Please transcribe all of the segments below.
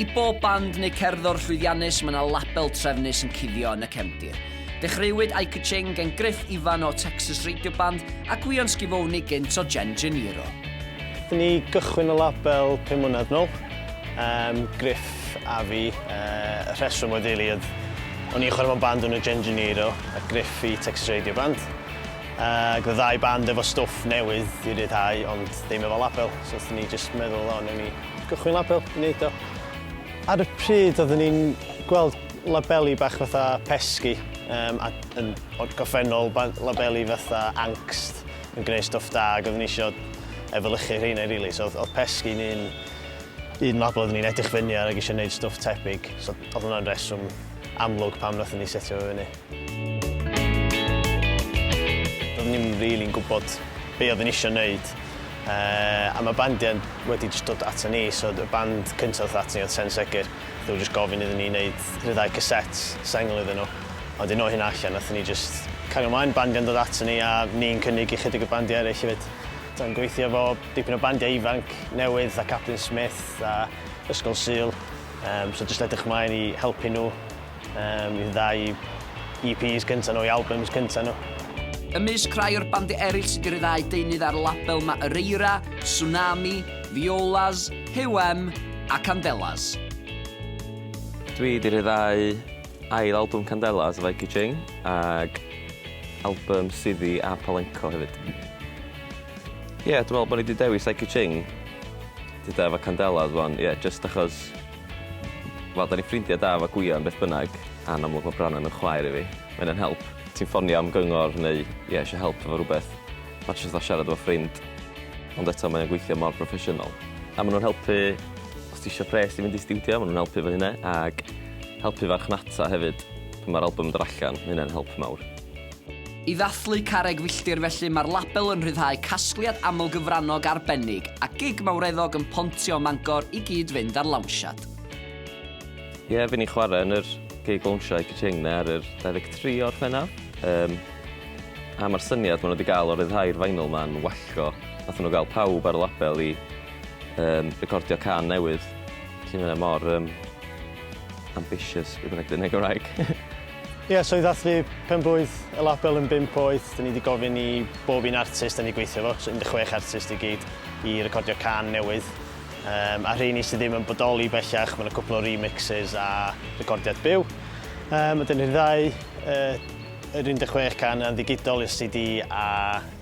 I bob band neu cerddor llwyddiannus mae yna label trefnus yn cuddio yn y cefndir. Dechreuwyd I Ka-Ching gen Griff Ifan o Texas Radio Band a Gwion Schiavone gynt o Gen Gennaro. Nathon ni gychwyn y label pum mlynedd nôl, yym Griff a fi. Yy y rheswm oedd rili oedd o'n i'n chwarae mewn band o'r enw Gen Gennaro a Griff i Texas Radio Band. Ac oedd ddau band efo stwff newydd i ryddhau ond ddim efo label, so wnaethon ni jyst meddwl o wnawn ni gychwyn label i wneud o. Ar y pryd oeddwn ni'n gweld labeli bach fatha pesgi yym a yn gorffennol labeli fatha angst yn gwneud stwff da ac oeddwn ni isio efelychu rheina rili so oedd pesgi yn un un label oeddwn ni'n edrych fyny ar ac isio wneud stwff tebyg so oedd hwnna'n reswm amlwg pam wnaethon ni setio fo fyny. Doeddwn i'm rili'n gwybod be oeddwn i eisiau wneud, a mae bandiau wedi jyst dod ato ni, so y band cyntaf ddoth ato ni oedd Sen Segur, nhw jyst gofyn iddyn ni wneud rhyddhau cassettes, sengl iddyn nhw, a wedyn o hynna allan nathon ni jyst cario mlaen, bandiau'n dod ato ni a ni'n cynnig ychydig o bandiau eraill hefyd. Do'n gweithio efo dipyn o bandiau ifanc newydd fatha Captain Smith a Ysgol Sul, so jyst edrych mlaen i helpu nhw Yym, i'r ddau EPs cynta nhw, eu albums cynta nhw. Ymysg rhai o'r bandiau eraill sydd wedi rhyddhau deunydd ar y label mae Ereira, Tsunami, Violas, Hewem a Candelas. Dwi wedi rhyddhau ail album Candelas, Vicky Ching, ac album Siddhi a Palenco hefyd. Ie, dwi'n meddwl bod ni wedi dewis Vicky Ching gyda efo Candelas 'wan, ie, jyst achos Wel, 'da ni'n ffrindiau da efo Gwion beth bynnag, a'n amlwg mae Branwen yn chwaer i fi. Mae hynna'n help. Ti'n ffonio am gyngor neu, ie, eisiau help efo rhywbeth, mae jyst fatha siarad efo ffrind. Ond eto, mae o'n gweithio mor broffesiynol. A maen nhw'n helpu os ti isio pres i fynd i stiwdio, maen nhw'n helpu efo hynna, ac helpu farchnata hefyd. Pan mae'r albwm yn dod allan, mae hynna'n help mawr. I ddathlu Carreg Filltir felly mae'r label yn rhyddhau casgliad amlgyfrannog arbennig a gig mawreddog yn Pontio ym Mangor i gyd-fynd â'r lawnsiad. Ie, fi'n i chwarae yn yr gig lawnsio Eiki Ching-ne ar yr 23 o Orffennaf. Yym, a mae'r syniad maen nhw wedi gael o ryddhau'r vinyl ma'n wallgo. Nathon nhw gael pawb ar y label i um, recordio can newydd. Felly mae mor um, ambitious, beth bynnag dyn Gymraeg. Ie, so i ddathlu pen-blwydd y label yn bump oed, dyn ni wedi gofyn i bob un artist dyn ni'n gweithio efo, so 16 artist i gyd, i recordio cân newydd. Um, a rheini sydd ddim yn bodoli bellach, mae'n cwpl o remixes a recordiad byw. Um, a dyn ni'n ddau uh, yr 16 can yn ddigidol i'r CD a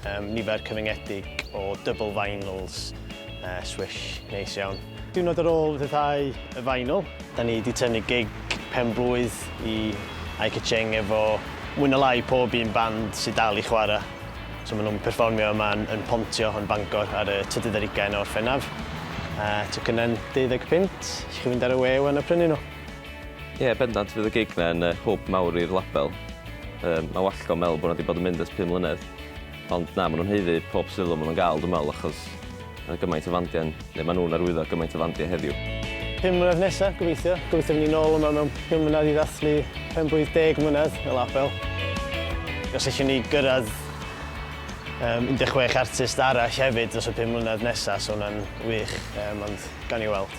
Um, nifer cyfyngedig o double vinyls, uh, swish, neis iawn. Diwrnod ar ôl rhyddhau y vinyl, da ni wedi tynnu gig pen blwydd i Aika Cheng efo mwy na lai pob un band sydd dal i chwarae. So maen nhw'n perfformio yma yn, yn Pontio yn Bangor ar y trydydd ar ugain o'r Orffennaf. Uh, Tocynnau'n 25, chi fynd ar y we wan a prynu nhw. Ie, bendant fydd y gig 'na yn hwb mawr i'r label. Um, mae Wallgo yn meddwl bod nhw wedi bod yn mynd ers 5 mlynedd. Ond na, maen nhw'n heiddi pob sylw maen nhw'n gael, dwi'n meddwl, achos mae gymaint o fandiau, neu maen nhw'n arwyddo gymaint o fandiau heddiw. Pum mlynedd nesaf, gobeithio. Gobeithio fynd ni'n ôl yma mewn pum mlynedd i ddathlu pen blwydd deg mlynedd y label. Os eisiau ni gyrraedd um, 16 artist arall hefyd dros y pum mlynedd nesaf, so hwnna'n wych, um, ond gan i weld.